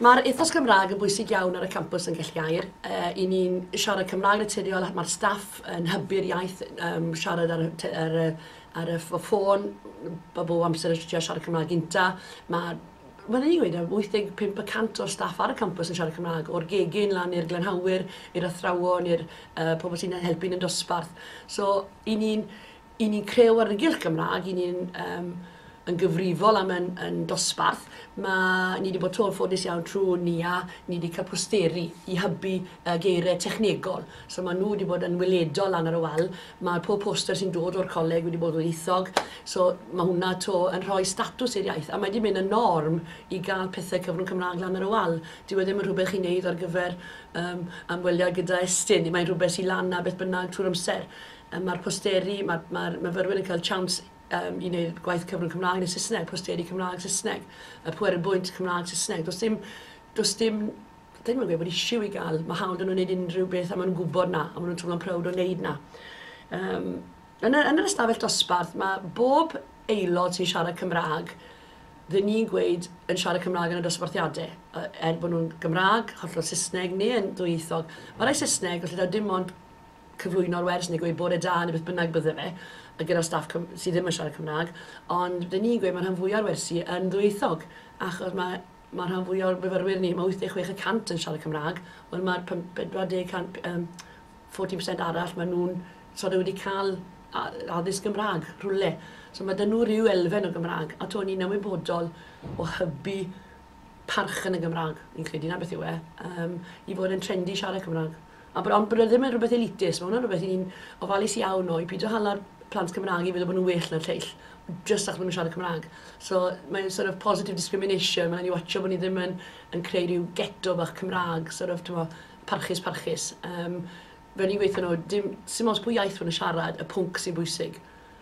Mae'r ethos Cymraeg yn bwysig iawn ar y campus yn Gellgair. Uh, I ni'n siarad Cymraeg naturiol, mae'r staff yn hybu'r iaith um, siarad ar, ar, ar ar y ffôn, bob o amser yn trio siarad Cymraeg gynta. Mae, wel, ni'n gweud, 85 y cant o'r staff ar y campus yn siarad Cymraeg, o'r gegin lan i'r glenhawyr, i'r athrawon, i'r uh, pobl sy'n helpu yn y dosbarth. So, i ni'n i ni creu argylch Gymraeg, i ni'n um, yn gyfrifol am yn yn dosbarth, ma' ni 'di bod to yn ffodus iawn trw NIA, ni 'di ca'l posteri i hybu yy geire technegol. So ma' nhw 'di bod yn weledol lan ar y wal. Ma' pob poster sy'n dod o'r coleg wedi bod yn ddwyieithog, so ma' hwnna to yn rhoi statws i'r iaith, a mae 'di mynd yn norm i ga'l pethe cyfrwng Cymra'g lan ar y wal. Dyw e ddim yn rhwbeth chi'n neud ar gyfer yym amweliad gyda Estyn, ni mae'n rhwbeth sy lan 'na beth bynnag trw'r amser. Yy ma'r posteri, ma'r ma'r myfyrwyr yn ca'l tsiawns yym i wneud gwaith cyfrwng Cymraeg neu Saesneg, posteri Cymraeg, Saesneg, y pwer yn bwynt Cymraeg, Saesneg. Does dim, does dim, ddim yn gweud bod eisiau i gael, mae hawl dyn nhw'n gwneud unrhyw beth a maen nhw'n gwybod na, a maen nhw'n teimlo'n prowd o wneud na. Um, yn, y, yn yr ystafell dosbarth, mae bob aelod sy'n siarad Cymraeg, dyn ni'n gweud yn siarad Cymraeg yn y dosbarthiadau, er bod nhw'n Gymraeg, hollol Saesneg neu yn ddwyieithog. Mae rai Saesneg, felly dim ond cyflwyno'r wers neu gweud bore da neu beth bynnag bydde fe, a gyda'r staff Cym- sydd ddim yn siarad Cymraeg, ond ry'n ni'n gweud mae rhan fwya o'r wersi yn ddwyieithog, achos mae mae rhan fwya o'r myfyrwyr ni, mae 86 y cant yn siarad Cymraeg, wel mae'r pum- pedwar deg can- yym 14 percent arall, maen nhw'n sort of wedi cael a- addysg Gymraeg rhywle. So mae 'da nhw ryw elfen o Gymraeg, a 'to ni'n ymwybodol o hybu parch yn y Gymraeg, fi'n credu 'na beth yw e, yym i fod yn trendy siarad Cymraeg. A bod ond bod e ddim yn rhywbeth elitist, mae hwnna'n rhywbeth i ni'n ofalus iawn o, i pidio hala'r plant Cymraeg i feddwl bod nhw'n well na'r lleill, jyst achos bod nhw'n siarad Cymraeg. So, mae'n sort of positive discrimination, mae'n rhaid ni watcho bod ni ddim yn, yn creu rhyw geto bach Cymraeg, sort of, tymo, parchus, parchus. Um, fe ni'n gweithio nhw, dim, sim os pwy iaith maen nhw'n siarad, y pwnc sy'n bwysig.